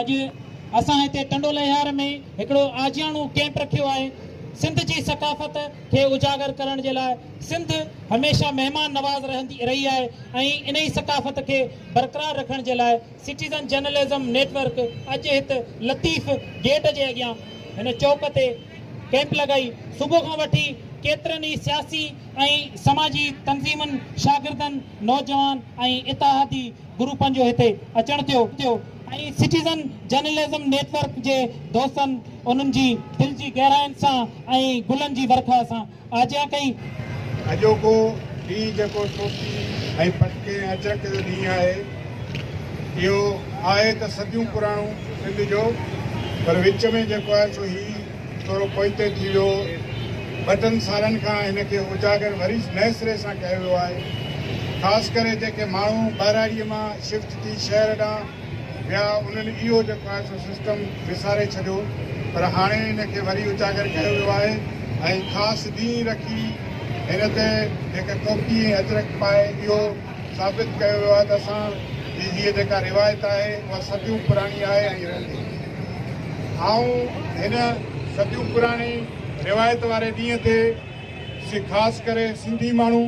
اڄ اسان هتي ٽنڊو لهيار ۾ هڪڙو آجياڻو ڪيمپ رکيو آهي سنڌ جي ثقافت کي اجاگر ڪرڻ جي لاء سنڌ هميشه مهمان نواز رهندي رهي آهي ۽ انهي ثقافت کي برقرار رکڻ جي لاء سٽيزن جرنلزم نيٽ ورڪ اڄ هت لطيف گيٽ جي اڳيان هن چوڪ تي ڪيمپ لڳائي صبح کان وٺي ڪيترن ئي سياسي ۽ سماجي تنظيمن شاگردن نوجوان ۽ اتحادي گروپن جو هتي اچڻ ٿيو ۽ سٽيزن جرنلزم نيٽ ورڪ جي دوستن انهن جي دل جي گهراين سان ۽ گلن جي ورکا سان آجيان ڪئي. اڄوڪو ڏينهن جيڪو سوچي ۽ پٽڪي ۽ اچرڪ جو ڏينهن آهي، اهو آهي ته صديون پراڻو سنڌ جو پر وچ ۾ جيڪو آهي سو هي، ٿورو پوئتي ٿي ويو. ٻٽن سالن کان هن کي اجاگر وري نئين سري سان ڪيو ويو آهي. خاص ڪري جيڪي ماڻهو ٻهراڙيء مان شفٽ ٿي شهر ڏانهن ويا انهن اهو جيڪو آهي سو سسٽم وساري ڇڏيو پر هاڻي هن کي وري اجاگر ڪيو ويو آهي ۽ خاص ڏينهن رکي هن تي جيڪي ڪوڪي ۽ اجرڪ پائي اهو ثابت ڪيو ويو آهي ته اسان جي هيء جيڪا روايت آهي اها صديون پراڻي آهي ۽ رهندي. آئون هن صديون پراڻي روايت واري ڏينهن تي سي خاص ڪري سنڌي ماڻهو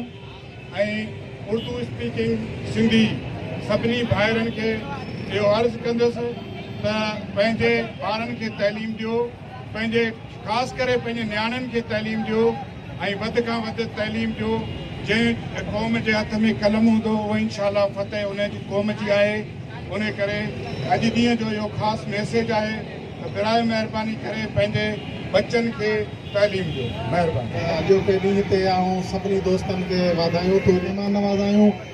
۽ اردو اسپيڪنگ سنڌي سڀني ڀائرن کي اهو عرض ڪندس ته پنهنجي ٻارن کي تعليم ڏيو، پنهنجي خاص ڪري پنهنجي نياڻين کي تعليم ڏيو ۽ وڌ کان وڌ تعليم ڏيو جنهن قوم جي هٿ ۾ قلم هوندو اهو انشاء الله فتح ان جي قوم جي آهي ان ڪري اڄ ڏينهن جو اهو خاص ميسيج آهي ته براهه مهرباني ڪري پنهنجي بچن کي تعليم ڏيو مهرباني. اڄوڪي ڏينهن تي آئون سڀني دوستن کي واڌايون ٿو ڏيان مان نوازايون.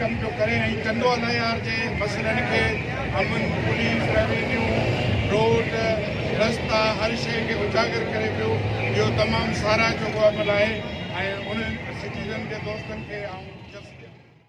ڪم پيو ڪري ۽ ڪندو اين اي آر جي مسئلن کي امن پوليس روينيو روڊ رستا هر شئي کي اجاگر ڪري پيو اهو تمام ساراهه جوڳو عمل آهي ۽ انهن سٽيزن جي دوستن کي آئون جس ڏيان ٿو.